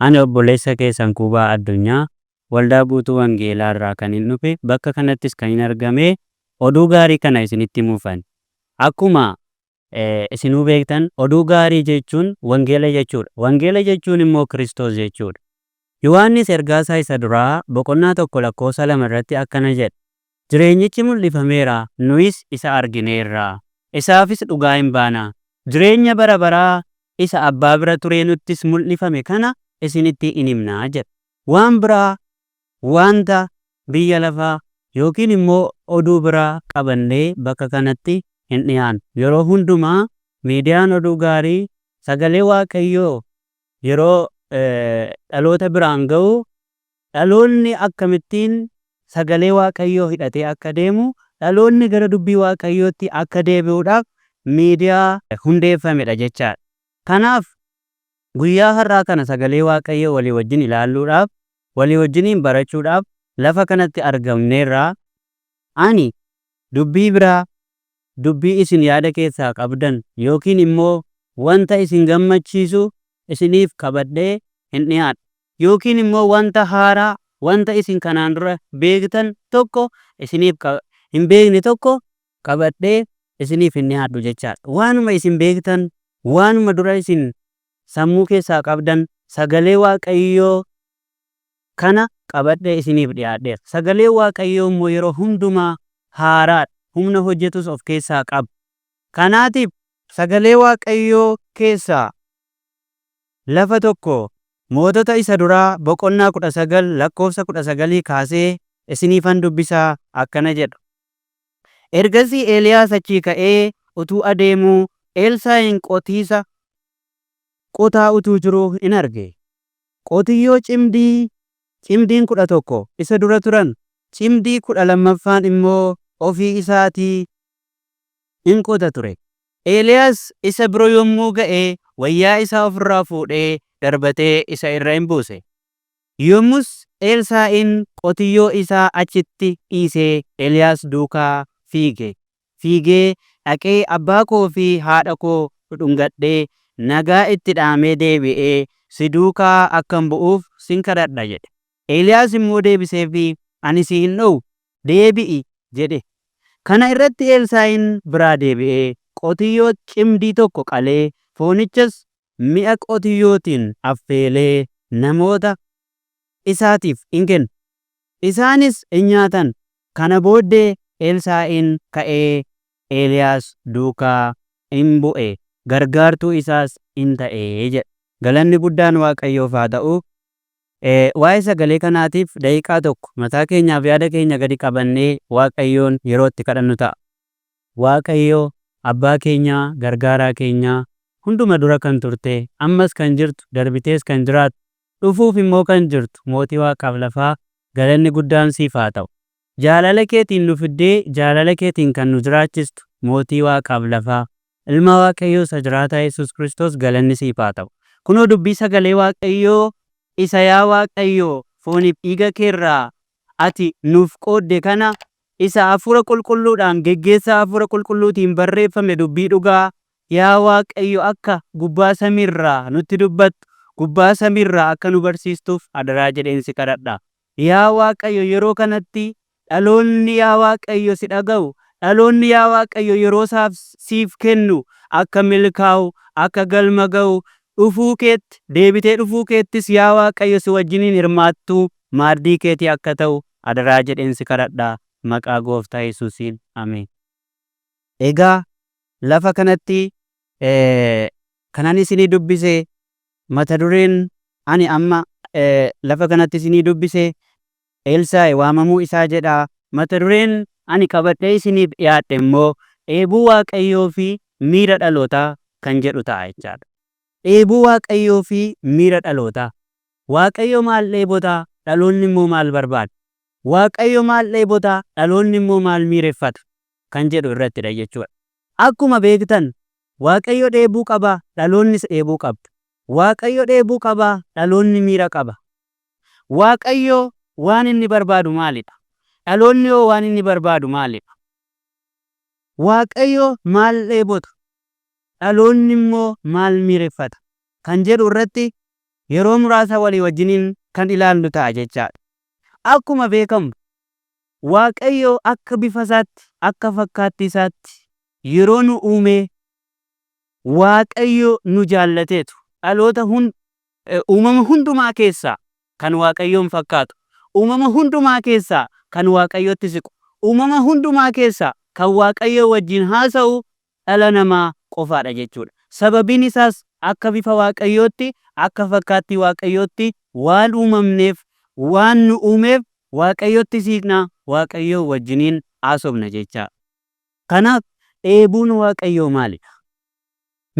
Ani obboleessa keessan Kuubaa Addunyaa, Waldaa Guutuu Wangeelaa irraa kanin dhufe, bakka kanattis kanin argame oduu gaarii kana isinitti himuufani. Akkuma isinuu beektan oduu gaarii jechuun wangeela jechuudha. Wangeela jechuun immoo Kiristoos jechuudha. Yohaannis ergaasaa isa duraa boqonnaa 1 lakkoofsa 2 irratti akkana jedha, Jireenyichi mul'ifameera, nuyis isa argineerra. Isaafis dhugaa in baana. Jireenya bara baraa isa Abbaa bira turee nuttis mul'ifame kana isinitti in himna jedha. Waan biraa, wanta biyya lafaa yookiin immoo oduu biraa qabannee bakka kanatti hin dhihaannu. Yeroo hundumaa Miidiyaan Oduu Gaarii sagalee Waaqayyoo yeroo dhaloota biraan ga'u Dhaloonni akkamittiin sagalee Waaqayyoo hidhatee akka deemu, dhaloonni gara dubbii Waaqayyootti akka deebi'uudhaaf miidiyaa. hundeeffamedha jechaadha. Kanaaf guyyaa har'aa kana sagalee Waaqayyoo walii wajjin ilaalluudhaaf, walii wajjiniin barachuudhaaf lafa kanatti argamneerra. Ani dubbii biraa dubbii isin yaada keessaa qabdan yookiin immoo wanta isin gammachiisu isiniif qabadhee in dhi'aadha. Yookiin immoo wanta haaraa, wanta isin kanaan dura beektan tokko isiniif, hin beekne tokko qabadhee isiniif hin dhi'aadhu jechaa dha. Waanuma isin beektan, waanuma dura isin sammuu keessaa qabdan, sagalee Waaqayyoo, kana qabadhee isiniif dhiyaadheera. Sagaleen Waaqayyoo immoo yeroo hundumaa haaraa dha, humna hojjetus of keessaa qaba. Kanaatiif. Sagalee Waaqayyoo keessaa lafa tokko Mootota Isa Duraa boqonnaa 19 lakkoofsa 19 kaasee isiniifan dubbisa, akkana jedha, Ergasii Eeliyaas achii ka'ee utuu adeemuu Eelsaa'iin qotiisa qotaa utuu jiruu in arge. Qotiyyoo cimdii, cimdiin 11 isa dura turan, cimdii 12ffaan immoo ofii isaatii in qota ture. Eeliyaas isa biro yommuu ga'e, wayyaa isaa of irraa fuudhee, darbatee isa irra in buuse. Yommus Eelsaa'iin qotiyyoo isaa achitti dhiisee Eeliyaas duukaa fiige. Fiigee dhaqee abbaa koo fi haadha koo dhudhungadhee nagaa itti dhaamee deebi'ee si duukaa akkan bu'uuf sin kadhadha jedhe. Eeliyaas immoo deebiseefii, Ani si hin dhowwu, deebi'i jedhe. Kana irratti Eelsaa'iin biraa deebi'ee qotiyyoo cimdii tokko qalee, foonichas mi'a qotiyyootiin affeelee namoota isaatiif in kenne. Isaanis in nyaatan. Kana booddee Elsaa'iin ka'ee Eeliyaas duukaa in bu'e, gargaartuu isaas in ta'e jedha. Galanni guddaan Waaqayyoof haa ta'u! Waa'ee sagalee kanaatiif daqiiqaa tokko mataa keenyaaf yaada keenya gadi qabannee Waaqayyoon yeroo itti kadhannu ta'a. Waaqayyo, Abbaa keenya, Gargaaraa keenya, hunduma dura kan turte, ammas kan jirtu, darbitees kan jiraattu, Dhufuuf immoo kan jirtu Mootii Waaqaaf Lafaa galanni guddaan siif haa ta'u. Jaalala keetiin nu fiddee jaalala keetiin kan nu jiraachistu Mootii Waaqaaf Lafaa, Ilma Waaqayyoo isa jiraataa Yesuus Kiristoos galanni siif haa ta'u. Kunoo dubbii sagalee Waaqayyoo isa yaa Waaqayyo fooniif dhiiga kee irraa ati nuuf qoodde kana, isa Hafuura Qulqulluudhaan geggeessaa Hafuura Qulqulluutiin barreeffame dubbii dhugaa Yaa Waaqayyo akka gubbaa samiirraa nutti dubbattu, gubbaa samiirraa akka nu barsiistuuf adaraa jedheen si kadhadha. Yaa Waaqayyo yeroo kanatti dhaloonni yaa Waaqayyo si dhaga'u, dhaloonni yaa Waaqayyo yeroosaaf siif kennu akka milkaa'u, akka galma ga'u, dhufuu keetti, deebitee dhufuu keettis yaa Waaqayyo si wajjiniin hirmaattuu maaddii keetii akka ta'u adaraa jedheen si kadhadha maqaa Gooftaa Yesuusiin. Ameen. Egaa Lafa kanatti kan ani isinii dubbise mata dureen ani amma lafa kanatti isinii dubbise Elsaa'i waamamuu isaa jedha. Mata dureen ani qabadhee isiniif dhiyaadhe immoo dheebuu Waaqayyoo fi miira dhalootaa kan jedhu ta'a jechaadha. Dheebuu Waaqayyoo fi miira dhalootaa. Waaqayyo maal dheebota, dhaloonni immoo maal barbaada? Waaqayyo maal dheebota, dhaloonni immoo maal miireffata? kan jedhu irratti dha jechuu dha. Akkuma beektan Waaqayyo dheebuu qaba, dhaloonnis dheebuu qabdu. Waaqayyo dheebuu qaba, dhaloonni miira qaba. Waaqayyo waan inni barbaadu maali dha? Dhaloonni hoo waan inni barbaadu maali dha? Waaqayyo maal dheebota? Dhaloonni immoo maal miireffata? kan jedhu irratti yeroo muraasa walii wajjiniin kan ilaallu ta'a jechaa dha. Akkuma beekamu Waaqayyo akka bifa isaatti, akka fakkaattii isaatti yeroo nu uumee Waaqayyo nu jaallateetu. Dhaloota hun, uumama hundumaa keessaa kan Waaqayyoon fakkaatu, uumama hundumaa keessaa kan Waaqayyotti siqu, uumama hundumaa keessaa kan Waaqayyoo wajjin haasa'u dhala namaa qofaa dha jechuu dha. Sababiin isaas, akka bifa Waaqayyootti, akka fakkaattii Waaqayyootti waan uumamneef, waan nu uumeef Waaqayyotti siiqna, Waaqayyoo wajjiniin haasofna jecha. Kanaaf, dheebuun Waaqayyoo maali dha?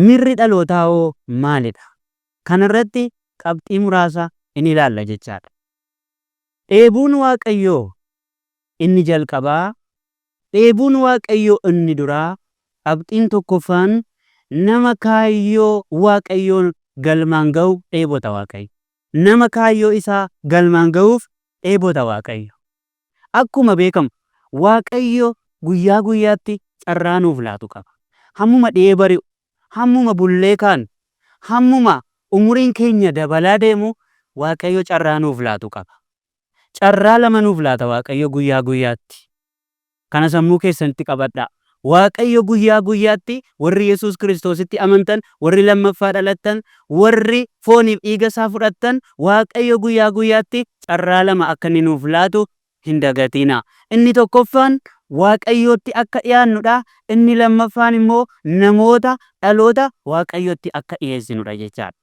Mirri dhalootaa hoo maali dha? Kana irratti qabxii muraasa in ilaalla jechaa dha. Dheebuun Waaqayyoo inni jalqabaa Dheebuun Waaqayyoo inni duraa, qabxiin tokkoffaan, nama kaayyoo Waaqayyoon galmaan ga'u dheebota Waaqayyo. Nama kaayyoo isaa galmaan ga'uuf dheebota Waaqayyo. Akkuma beekamu Waaqayyo guyyaa guyyaatti carraa nuuf laatu qaba. Hammuma dhi'ee bari'u, hammuma bullee kaanu, hammuma umuriin keenya dabalaa deemu Waaqayyo carraa nuuf laatu qaba. Carraa lama nuuf laata Waaqayyo guyyaa guyyaatti. Kana sammuu keessanitti qabadhaa. Waaqayyo guyyaa guyyaatti warri Yesuus Kiristoositti amantan, warri lammaffaa dhalattan, warri fooniif dhiiga isaa fudhattan Waaqayyo guyyaa guyyaatti carraa lama akka inni nuuf laatu hin dagatiinaa. Inni tokkoffaan Waaqayyootti akka dhiyaannu dha, inni lammaffaan immoo namoota, dhaloota Waaqayyootti akka dhiyeessinu dha jechaa dha.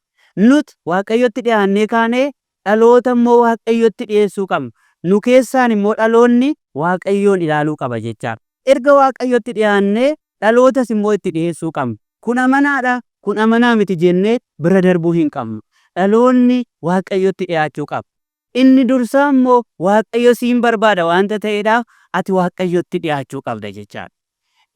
Nut Waaqayyootti dhiyaannee kaanee Dhaloota immoo Waaqayyotti dhi'eessuu qabna. Nu keessaan immoo dhaloonni Waaqayyoon ilaaluu qaba jechaadha. Erga Waaqayyotti dhi'aannee dhalootas immoo itti dhi'eessuu qabna. Kun amanaadha, kun amanaa miti jennee bira darbuu hin qabnu. Dhaloonni Waaqayyotti dhi'aachuu qaba. Inni dursaa immoo Waaqayyo siin barbaada waanta ta'eedhaaf ati Waaqayyotti dhi'aachuu qabda jechaadha.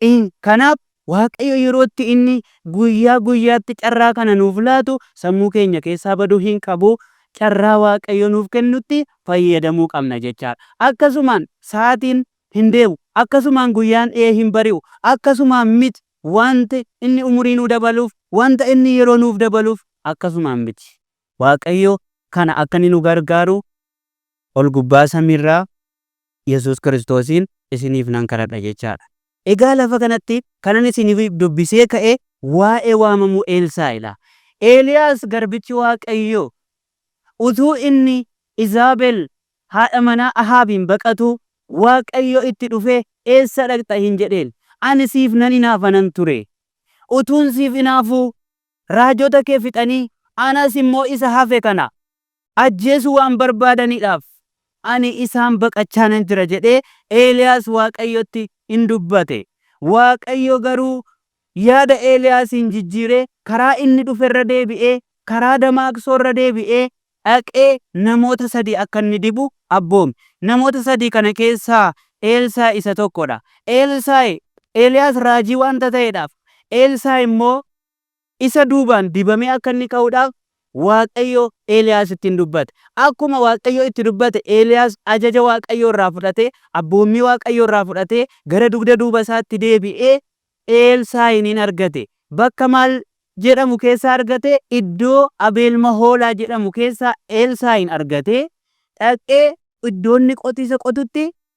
in. Kanaaf, Waaqayyo yeroo itti inni guyyaa guyyaatti carraa kana nuuf laatu sammuu keenya keessaa baduu hin qabu, carraa Waaqayyo nuuf kennutti fayyadamuu qabna jechaa dha. Akkasumaan sa'aatiin hin deemu, akkasumaan guyyaan dhi'ee hin bari'u, akkasumaan miti, wanti inni umurii nuu dabaluuf, wanta inni yeroo nuuf dabaluuf akkasumaan miti. Waaqayyo kana akka inni nu gargaaru ol gubbaa samii irraa Yesuus Kiristoosiin isiniif nan kadhadha jechaa dha. Egaa lafa kanatti kanan isiniif dubbisee ka'e waa'ee waamamuu Eelsaa'i dha. Eeliyaas garbichi Waaqayyoo utuu inni Izaabel haadha manaa Ahaabiin baqatuu Waaqayyo itti dhufee eessa dhaqxa hin jedheen. Ani siif nan inaafanan ture. Utuun siif inaafuu raajota kee fixanii anas immoo isa hafe kana ajjeesuu waan barbaadaniidhaaf ani isaan baqachaanan jira jedhee Eeliyaas Waaqayyotti in dubbate. Waaqayyo garuu yaada Eeliyaasiin jijjiiree karaa inni dhufe irra deebi'ee karaa Damaaqsoo irra deebi'ee dhaqee namoota sadii akka inni dibu abboome. Namoota sadii kana keessaa Eelsaa'i isa tokkodha. Eelsaa'i Eeliyaas raajii waanta ta'eedhaaf Eelsaa'i immoo Isa duubaan dibamee akka inni ka'uudhaaf Waaqayyo Eeliyaasitti in dubbate. Akkuma Waaqayyo itti dubbate Eeliyaas ajaja Waaqayyoo irraa fudhatee, abboommii Waaqayyoo irraa fudhatee gara dugda duuba isaatti deebi'ee Eelsaa'iin in argate. Bakka maal jedhamu keessaa argate? Iddoo Abeel Mahoolaa jedhamu keessaa Eelsaa'iin argatee dhaqee iddoo inni qotiisa qotutti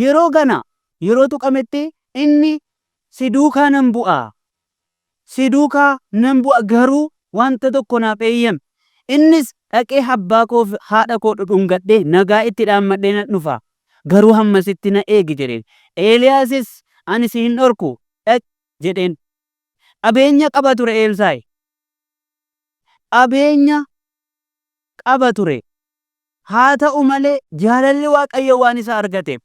Yeroo kana yeroo tuqametti inni si duukaa nan bu'a, si duukaa nan bu'a garuu wanta tokko naaf eeyyami, innis dhaqee abbaa koo fi haadha koo dhudhungadhee nagaa itti dhaammadhee nan dhufa, garuu hammasitti na eegi jedheen. Eeliyaasis ani si hin dhorku, dhaqi jedheen. Qabeenya qaba ture Eelsaa'i. Qabeenya qaba ture. Haata'u malee, jaalalli Waaqayyoo waan isa argateef,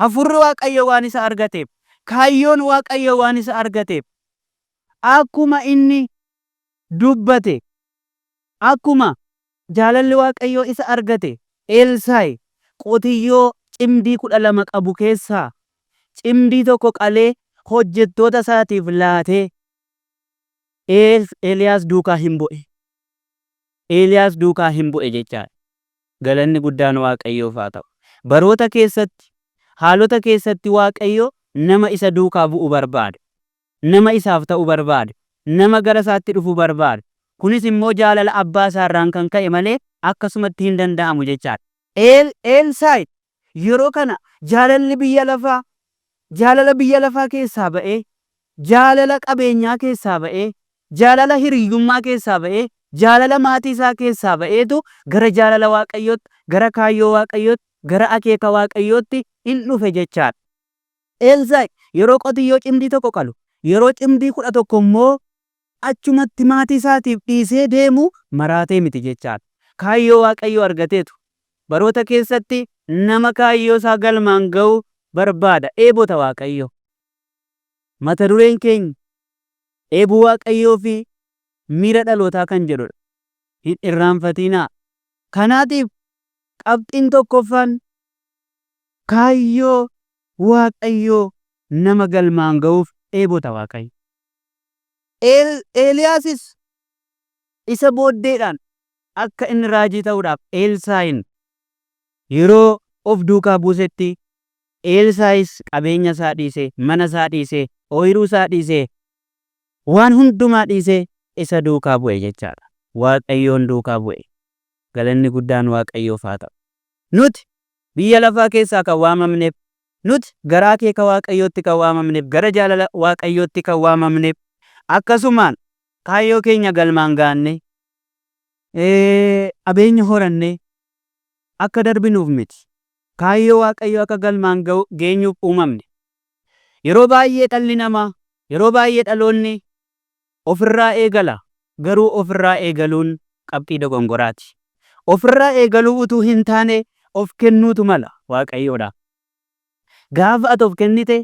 hafuurri Waaqayyoo waan isa argateef, kaayyoon Waaqayyoo waan isa argateef, akkuma inni dubbate, akkuma jaalalli Waaqayyoo isa argate, Eelsaa'i qotiyyoo cimdii 12 qabu keessaa cimdii tokko qalee hojjettoota isaatiif laatee Eeliyaas duukaa in bu'e. Eeliyaas duukaa hin bu'e jechaa dha. Galanni guddaan Waaqayyoof haa ta'u! Baroota keessatti, haalota keessatti Waaqayyo nama isa duukaa bu'u barbaada. Nama isaaf ta'u barbaada. Nama gara isaatti dhufu barbaada. Kunis immoo jaalala Abbaa isaa irraan kan ka'e malee akkasumatti hin danda'amu jechaa dha. Eel, Eelsaa'i, Yeroo kana jaalalli biyya lafaa jaalala biyya lafaa keessaa ba'ee, jaalala qabeenyaa keessaa ba'ee, jaalala hiriyyummaa keessaa ba'ee, jaalala maatii isaa keessaa ba'eetu gara jaalala Waaqayyootti, gara kaayyoo Waaqayyootti, gara akeeka Waaqayyootti in dhufe jechaa dha. Elsaa'i yeroo qotiyyoo cimdii tokko qalu, yeroo cimdii 11 immoo achumatti maatii isaatiif dhiisee deemu maraatee miti jechaa dha. Kaayyoo Waaqayyoo argateetu baroota keessatti nama kaayyoo isaa galmaan ga'uu barbaada. Eebota Waaqayyoo. Mata dureen keenya Dheebuu Waaqayyoo fi Miira Dhalootaa kan jedhu dha. Hin irraanfatiinaa! Kanaatiif qabxiin tokkoffaan kaayyoo Waaqayyoo nama galmaan ga'uuf dheebota Waaqayyo. Eeliyaasis isa booddeedhaan akka inni raajii ta'uudhaaf Eelsaa'iin yeroo of duukaa buusetti, Eelsaa'is qabeenya isaa dhiisee, mana isaa dhiisee, ooyiruu isaa dhiisee, waan hundumaa dhiisee isa duukaa bu'e jechaa dha. Waaqayyoon duukaa bu'e. Galanni guddaan Waaqayyoof haa ta'u! Nuti biyya lafaa keessaa kan waamamneef Nuti gara akeeka Waaqayyootti kan waamamneef, gara jaalala Waaqayyootti kan waamamneef, akkasumaan kaayyoo keenya galmaan gaannee, qabeenya horannee akka darbinuuf miti. Kaayyoo Waaqayyoo akka galmaan geenyuuf uumamne. Yeroo baay'ee dhalli namaa, yeroo baay'ee dhaloonni ofirraa eegala. Garuu ofirraa eegaluun qabxii dogongoraati. Ofirraa eegaluu utuu hin taane of kennuutu mala. Waaqayyoodhaaf. Gaafa ati of kennite,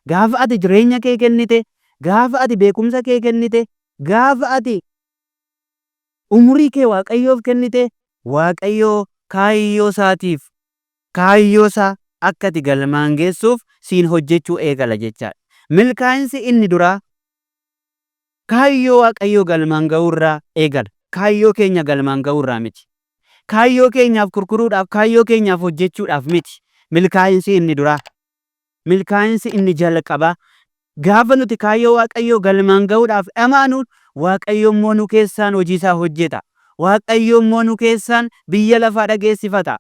gaafa ati jireenya kee kennite, gaafa ati beekumsa kee kennite, gaafa ati umurii kee Waaqayyoof kennite, Waaqayyo kaayyoo isaatiif, kaayyoo isaa akka ati galmaan geessuuf siin hojjechuu eegala jechaadha. Milkaa'insi inni duraa Kaayyoo Waaqayyoo galmaan ga'uurraa eegala. Kaayyoo keenya galmaan ga'uurraa miti. Kaayyoo keenyaaf kurkuruudhaaf, kaayyoo keenyaaf hojjechuudhaaf miti. Milkaa'insi inni duraa, milkaa'insi inni jalqabaa gaafa nuti kaayyoo Waaqayyoo galmaan ga'uudhaaf dhamaanu, Waaqayyo immoo nu keessaan hojii isaa hojjeta. Waaqayyo immoo nu keessaan biyya lafaa dhageessifata.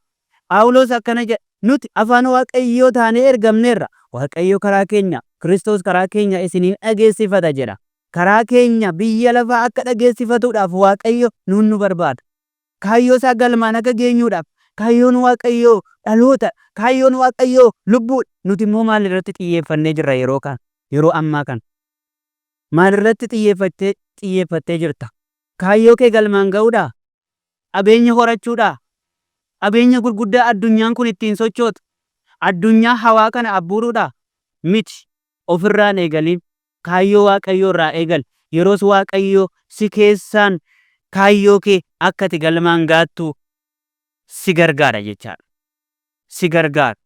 Phaawulos akkana jedha, Nuti afaan Waaqayyoo taanee ergamneerra, Waaqayyo karaa keenya, Kiristoos karaa keenya isin in dhageessifata jedha. Karaa keenya biyya lafaa akka dhageessifatuudhaaf Waaqayyo nuun nu barbaada. Kaayyoo isaa galmaan akka geenyuudhaaf, kaayyoon Waaqayyoo dhaloota, kaayyoon Waaqayyoo lubbuudha. Nuti immoo maal irratti xiyyeeffannee jirra yeroo kana, yeroo ammaa kana? Maal irratti xiyyeeffattee, xiyyeeffattee jirta? Kaayyoo kee galmaan ga'uudhaa? Qabeenya horachuudhaa? Qabeenya gurguddaa addunyaan kun ittiin sochootu, addunyaa hawaa kana abbuuruudhaa? Miti. Of irraa hin eegalin. Kaayyoo Waaqayyoo irraa eegali. Yeroos Waaqayyo si keessaan kaayyoo kee akka ati galmaan gaattu si gargaara jechaadha. Si gargaara.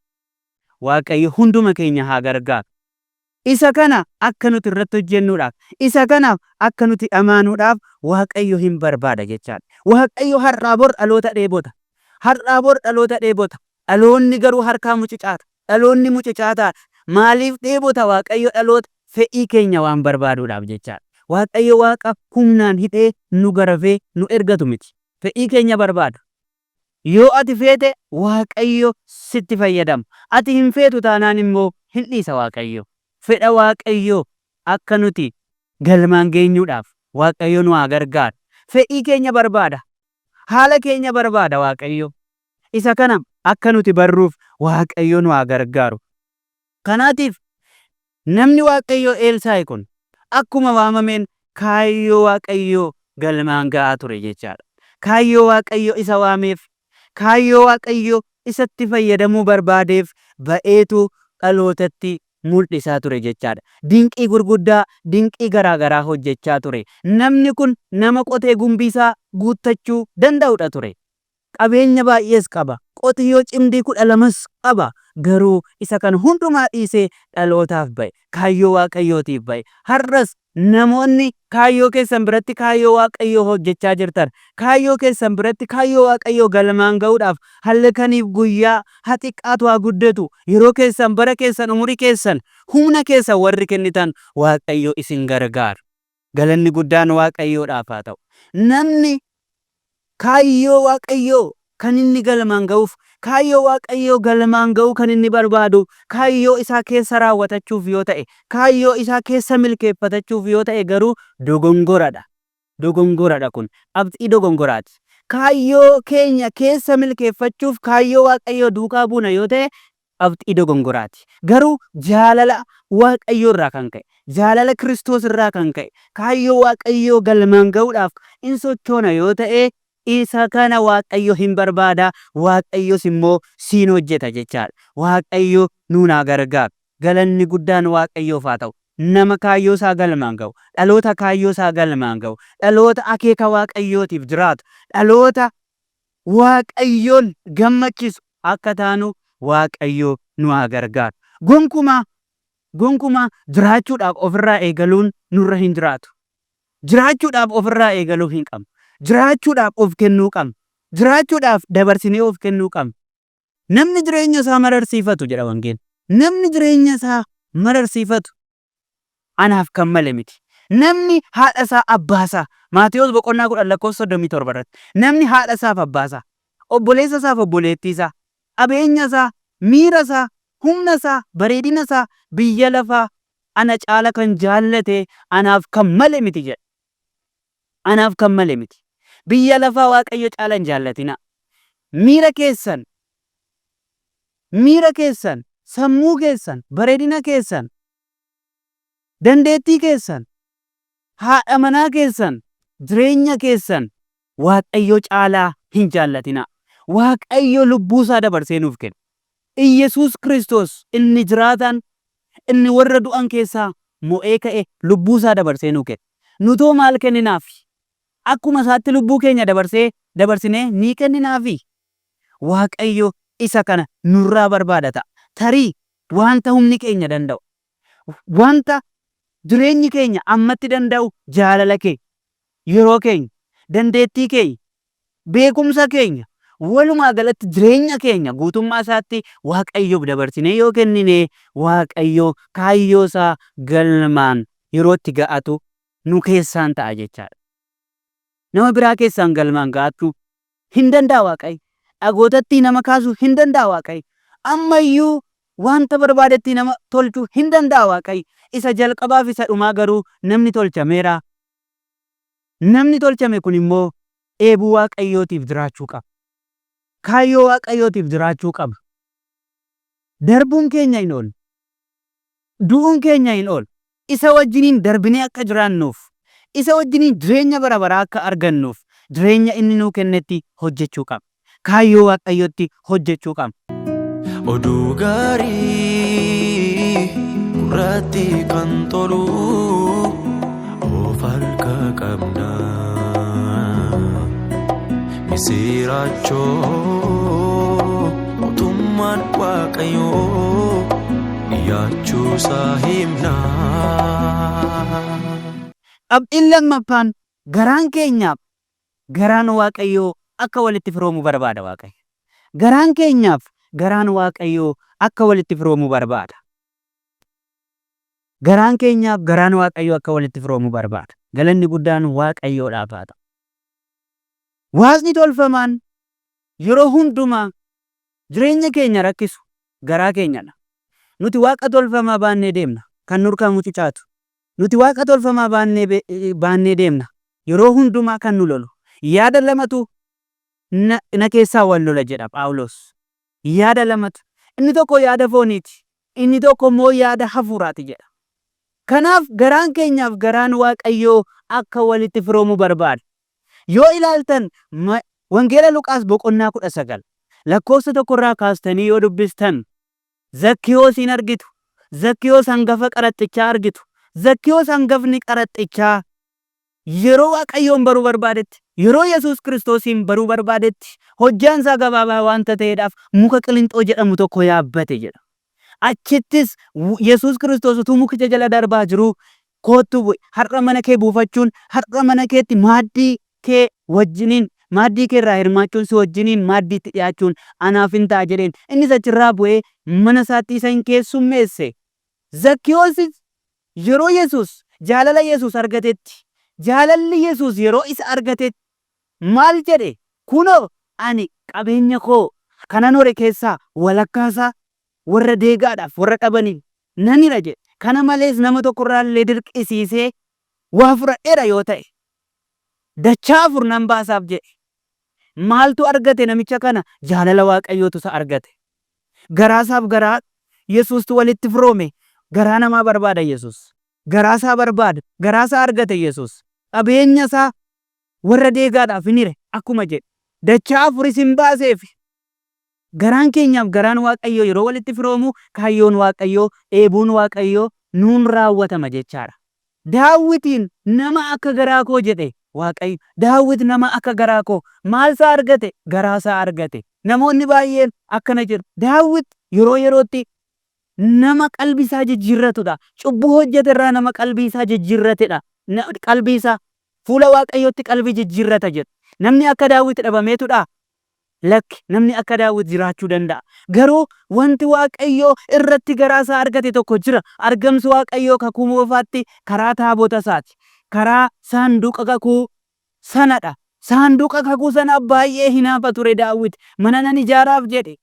Waaqayyo hunduma keenya haa gargaaru. Isa kana akka nuti irratti hojjennuudhaaf, isa kanaaf akka nuti amaanuudhaaf Waaqayyo hin barbaada jechaa dha. Waaqayyo har'aa bor dhaloota dheebota. Har'aa bor dhaloota dheebota. Dhaloonni garuu harkaa mucucaata. Dhaloonni mucucaataa dha. Maaliif dheebota Waaqayyo dhaloota? Fedhii keenya waan barbaaduudhaaf jechaa dha. Waaqayyo Waaqa humnaan hidhee nu garafee nu ergatu miti. Fedhii keenya barbaada. Yoo ati feete Waaqayyo sitti fayyadama. Ati hin feetu taanaan immoo hin dhiisa Waaqayyo. Fedha Waaqayyoo akka nuti galmaan geenyuudhaaf Waaqayyo nu haa gargaaru. Fedhii keenya barbaada. Haala keenya barbaada Waaqayyo. Isa kana akka nuti barruuf Waaqayyo nu haa gargaaru. Kanaatiif namni Waaqayyoo Eelsaa'i kun akkuma waamameen kaayyoo Waaqayyoo galmaan ga'aa ture jechaa dha. Kaayyoo Waaqayyo isa waameef, kaayyoo Waaqayyo isatti fayyadamuu barbaadeef ba'eetu dhalootatti mul'isaa ture jechaa dha. Dinqii gurguddaa, dinqii garaa garaa hojjechaa ture. Namni kun nama qotee gumbii isaa guuttachuu danda'u dha ture. Qabeenya baay'ees qaba. Qotiyyoo cimdii 12s qaba. Garuu isa kana hundumaa dhiisee dhalootaaf ba'e. Kaayyoo Waaqayyootiif ba'e. Har'as namoonni kaayyoo keessan biratti kaayyoo Waaqayyoo hojjechaa jirtan, kaayyoo keessan biratti kaayyoo Waaqayyoo galmaan ga'uudhaaf halkaniif guyyaa haa xiqqaatu haa guddatu yeroo keessan, bara keessan, umurii keessan, humna keessan warri kennitan Waaqayyo isin gargaara. Galanni guddaan Waaqayyoodhaaf haa ta'u! Namni kaayyoo Waaqayyoo kan inni galmaan ga'uuf, kaayyoo Waaqayyoo galmaan ga'uu kan inni barbaadu, kaayyoo isaa keessa raawwatachuuf yoo ta'e, kaayyoo isaa keessa milkeeffatachuuf yoo ta'e garuu dogongora dha. Dogongora dha kun. Qabxii dogongoraa ti. Kaayyoo keenya keessa milkeeffachuuf kaayyoo Waaqayyoo duukaa buuna yoo ta'e, qabxii dogongoraati. Garuu jaalala Waaqayyoo irraa kan ka'e, jaalala Kiristoos irraa kan ka'e, kaayyoo Waaqayyoo galmaan ga'uudhaaf in sochoona yoo ta'e, isa kana Waaqayyo in barbaada, Waaqayyos immoo siin hojjeta jechaa dha. Waaqayyo nuun haa gargaaru. Galanni guddaan Waaqayyoof haa ta'u. Nama kaayyoo isaa galmaan ga'u, dhaloota kaayyoo isaa galmaan ga'u, dhaloota akeeka Waaqayyootiif jiraatu, dhaloota Waaqayyoon gammachiisu akka taanu Waaqayyo nu haa gargaaru. Gonkumaa, gonkumaa jiraachuudhaaf ofirraa eegaluun nurra hin jiraatu. Jiraachuudhaaf ofirraa eegaluu hin qabnu. Jiraachuudhaaf of kennuu qabna. Jiraachuudhaaf dabarsinee of kennuu qabna. Namni jireenya isaa mararsiifatu, jedha Wangeelli. Namni jireenya isaa mararsiifatu anaaf kan male miti. Namni haadha isaa, abbaa isaa, Maatewos boqonnaa 10 lakkoofsa 37 irratti, namni haadha isaa fi abbaa isaa, obboleessa isaa fi obboleettii isaa, qabeenya isaa, miira isaa, humna isaa, bareedina isaa, biyya lafaa ana caala kan jaallate anaaf kan male miti jedha. Anaaf kan male miti. Biyya lafaa Waaqayyo caala hin jaallatinaa. Miira keessan, miira keessan, sammuu keessan, bareedina keessan, dandeettii keessan, haadha manaa keessan, jireenya keessan Waaqayyo caalaa hin jaallatinaa. Waaqayyo lubbuu isaa dabarsee nuuf kenne. Iyyasuus Kiristoos inni jiraataan, inni warra du'an keessaa mo'ee ka'e lubbuu isaa dabarsee nuu kenne. Nutoo maal kenninaafii? Akkuma isaatti lubbuu keenya dabarsee dabarsinee ni kenninaafii? Waaqayyo isa kana nurraa barbaada ta'a. Tarii wanta humni keenya danda'u, wanta jireenyi keenya ammatti danda'u jaalala kee, yeroo keenya, dandeettii keenya, beekumsa keenya, walumaa galatti jireenya keenya guutummaa isaatti Waaqayyoof dabarsinee yoo kennine Waaqayyo kaayyoo isaa galmaan yeroo itti ga'atu nu keessaan ta'a jechaadha. Nama biraa keessaan galmaan ga'achuu Hin danda'a Waaqayyo. Dhagootattii nama kaasuu hin danda'a Waaqayyo. Amma iyyuu wanta barbaadettii nama tolchuu hin danda'a Waaqayyo. Isa jalqabaa fi isa dhumaa garuu namni tolchameera. Namni tolchame kun immoo dheebuu Waaqayyootiif jiraachuu qaba. Kaayyoo Waaqayyootiif jiraachuu qaba. Darbuun keenya hin oolu. Du'uun keenya hin oolu. Isa wajjiniin darbinee akka jiraannuuf, isa wajjiniin jireenya bara baraa akka argannuuf jireenya inni nuu kennetti hojjechuu qabna. Kaayyoo Waaqayyootti hojjechuu qabna. Oduu gaarii gurratti kan tolu. Of harka qabna misiraachoo mootummaan waaqayyoo dhiyaachuusaa himna. Qabxiin lammaffaan garaan keenyaaf garaan waaqayyoo akka walitti firoomu barbaada waaqayyo. Garaan keenyaaf garaan waaqayyoo akka walitti firoomu barbaada. Garaan keenyaaf garaan Waaqayyoo akka walitti firoomu barbaada. Galanni guddaan Waaqayyoodhaaf haa ta'u. Waaqni tolfamaan yeroo hundumaa jireenya keenya rakkisu garaa keenyadha. Nuti Waaqa tolfamaa baannee deemna, kan nurkaa mucucaatu. Nuti Waaqa tolfamaa baannee be- baannee deemna, yeroo hundumaa kan nu lolu. Yaada lamatu na, na keessaa wal lola jedha Phaawulos. Yaada lamatu, inni tokko yaada fooniiti, inni tokko immoo yaada hafuuraati jedha. Kanaaf garaan keenyaaf garaan Waaqayyoo akka walitti firoomu barbaada. Yoo ilaaltan ma, Wangeela Luqaas boqonnaa 19 lakkoofsa 1 irraa kaastanii yoo dubbistan, Zakkiyoosiin argitu, Zakkiyoos hangafa qaraxxichaa argitu, Zakkiyoos hangafni qaraxxichaa Yeroo Waaqayyoon baruu barbaadetti, yeroo Yesuus Kiristoosiin baruu barbaadetti, hojjaan isaa gabaabaa waanta ta'eedhaaf muka qilinxoo jedhamu tokko yaabbate jedha. Achittis Yesuus Kiristoos utuu mukicha jala darbaa jiruu koottu bu'i, har'a mana kee buufachuun, har'a mana keetti maaddii kee wajjiniin, maaddii kee irraa hirmaachuun, si wajjiniin maaddiitti dhiyaachuun anaaf in ta'a jedheen. Innis achirraa bu'ee mana isaatti isa in keessummeesse. Zakkiwoosis Yeroo Yesuus jaalala Yesuus argatetti, jaalalli Yesuus yeroo isa argatetti maal jedhe? Kunoo, ani qabeenya koo kanan hore keessaa walakkaa isaa warra deegaadhaaf, warra dhabaniif nan hira jedhe. Kana malees nama tokko irraa illee dirqisiisee waa fudhadheera yoo ta'e, dachaa afur nan baasaaf jedhe. Maaltu argate namicha kana? Jaalala Waaqayyootu isa argate. Garaasaaf garaa Yesuustu walitti firoome. Garaa namaa barbaada Yesuus. Garaasaa barbaada. Garaasaa argate Yesuus. Qabeenyasaa warra deegaadhaaf hin hire akkuma jedhe. Dachaa afur isin baaseef. Garaan keenyaaf garaan Waaqayyoo yeroo walitti firoomu kaayyoon Waaqayyoo, dheebuun Waaqayyoo nuun raawwatama jechaadha. Daawitiin nama akka garaa koo jedhe Waaqayyo. Daawit nama akka garaa koo. Maalsaa argate? Garaasaa argate. Namoonni baay'een akkana jedhu. Daawit yeroo yerootti nama qalbiisaa jijjiirratudha. Cubbuu hojjete irraa nama qalbiisaa jijjiirratedha. Na- Qalbiisaa fuula Waaqayyootti qalbii jijjiirrata jedhu. Namni akka Daawit dhabameetudhaa? Lakki, namni akka Daawit jiraachuu danda'a. Garuu wanti Waaqayyo irratti garaa isaa argate tokko jira. Argamsi Waaqayyoo Kakuu Moofaatti karaa Taabota isaati. Karaa Saanduqa Kakuu sana dha. Saanduqa Kakuu sanaaf baay'ee hinaafa ture Daawit. Mana nan ijaaraaf jedhe.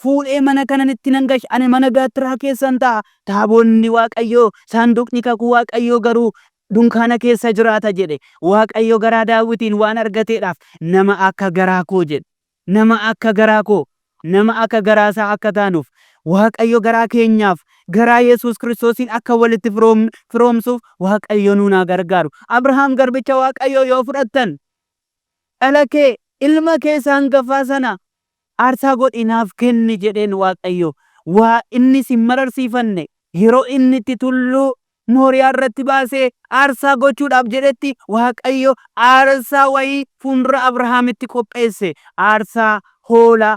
fuudhee mana kanan itti nan gasha, ani mana gaattiraa keessan ta'a, taabonni Waaqayyoo, saanduqni kakuu Waaqayyoo garuu dunkaana keessa jiraata jedhe. Waaqayyo garaa Daawitiin waan argateedhaaf nama akka garaa koo jedhe. Nama akka garaa koo, nama akka garaa isaa akka taanuuf, Waaqayyo garaa keenyaaf garaa Yesuus Kiristoosiin akka walitti firoomnu, firoomsuuf Waaqayyo nuun haa gargaaru. Abrahaam garbicha Waaqayyoo yoo fudhattan, dhala kee, ilma kee isa hangafaa sana Aarsaa godhii naaf kenni jedheen Waaqayyo waa inni sin mararsiifanne yeroo inni itti tulluu Mooriyaa irratti baasee aarsaa gochuudhaaf jedhetti Waaqayyo aarsaa wayii fuundura Abrahaamitti qopheesse. Aarsaa hoolaa.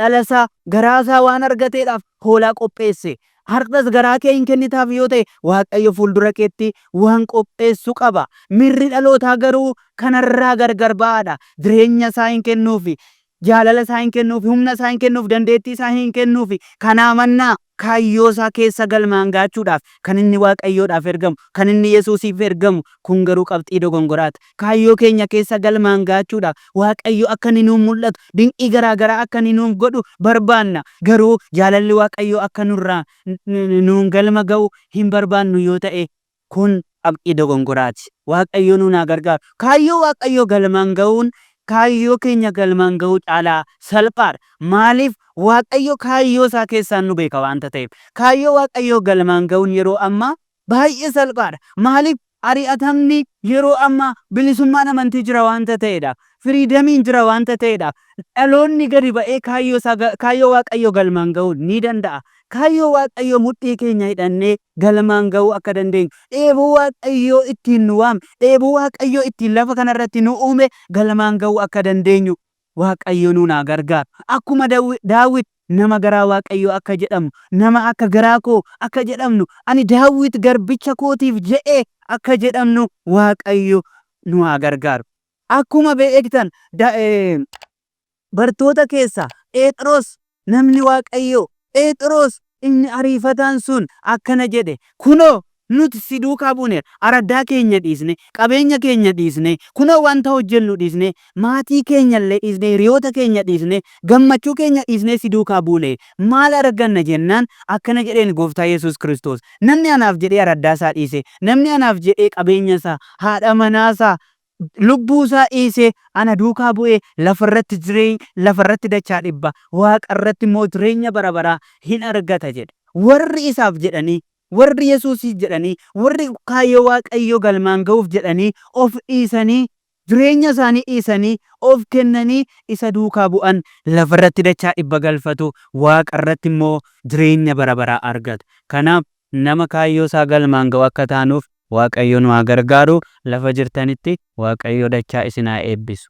Dhalasaa, garaasaa waan argateedhaaf hoolaa qopheesse. Hardhas garaa kee in kennitaaf yoo ta'e, Waaqayyo fuuldura keetti waan qopheessu qaba. Mirri dhalootaa garuu kanarraa gargar ba'aa dha. Jireenya isaa hin kennuufi, jaalala isaa hin kennuufi, humna isaa hin kennuufi, dandeettii isaa hin kennuufi. Kanaa mannaa, kaayyoo isaa keessa galmaan ga'achuudhaaf kan inni Waaqayyoodhaaf ergamu, kan inni Yesuusiif ergamu, kun garuu qabxii dogongoraa ti. Kaayyoo keenya keessa galmaan ga'achuudhaaf Waaqayyo akka inni nuuf mul'atu, dinqii garaa garaa akka inni nuuf godhu barbaanna. Garuu jaalalli Waaqayyoo akka nurraa nuun galma ga'u hin barbaannu yoo ta'e kun qabxii dogongoraati. Waaqayyo nuun haa gargaaru. Kaayyoo Waaqayyoo galmaan ga'uun kaayyoo keenya galmaan ga'uu caalaa salphaadha. Maaliif? Waaqayyo kaayyoo isaa keessaan nu beeka waanta ta'eef. Kaayyoo Waaqayyoo galmaan ga'uun yeroo ammaa Baay'ee salphaadha. Maaliif? Ari'atamni yeroo ammaa bilisummaan amantii jira waanta ta'eedhaaf, firiidamiin jira waanta ta'eedhaaf, dhaloonni gadi ba'ee kaayyoo isaa, kaayyoo Waaqayyoo galmaan ga'uu ni danda'a. Kaayyoo Waaqayyoo mudhii keenya hidhannee galmaan ga'uu akka dandeenyu, dheebuu Waaqayyoo ittiin nu waame, dheebuu Waaqayyoo ittiin lafa kana irratti nu uume galmaan ga'uu akka dandeenyu Waaqayyo nuun haa gargaaru. Akkuma Daawit nama garaa Waaqayyoo akka jedhamnu, nama akka garaa koo akka jedhamnu, ani Daawit garbicha kootiif jedhee akka jedhamnu Waaqayyo nu haa gargaaru. Akkuma beektan bartoota keessaa Pheexiroos Namni Waaqayyoo, Pheexiroos inni ariifataan sun akkana jedhe, Kunoo, nuti si duukaa buuneerra. Araddaa keenya dhiisnee, qabeenya keenya dhiisnee, kunoo wanta hojjennu dhiisnee, maatii keenya illee dhiisnee, hiriyoota keenya dhiisnee, gammachuu keenya dhiisnee si duukaa buune. Maal arganna jennaan akkana jedheen, Gooftaa Yesuus Kiristoos, namni anaaf jedhee araddaa isaa dhiise, namni anaaf jedhee qabeenya isaa, haadha manaa isaa, Lubbuu isaa dhiisee ana duukaa bu'ee lafa irratti jireenya, lafa irratti dachaa dhibba, waaqa irratti immoo jireenya bara baraa hin argata jedhe. Warri isaaf jedhanii, warri Yesuusiif jedhanii, warri kaayyoo Waaqayyoo galmaan ga'uuf jedhanii of dhiisanii, jireenya isaanii dhiisanii, of kennanii isa duukaa bu'an lafa irratti dachaa dhibba galfatu, waaqa irratti immoo jireenya bara baraa argatu. Kanaaf Nama kaayyoo isaa galmaan ga'u akka taanuuf Waaqayyo nu haa gargaaru. Lafa jirtanitti Waaqayyo dachaa isin haa eebbisu.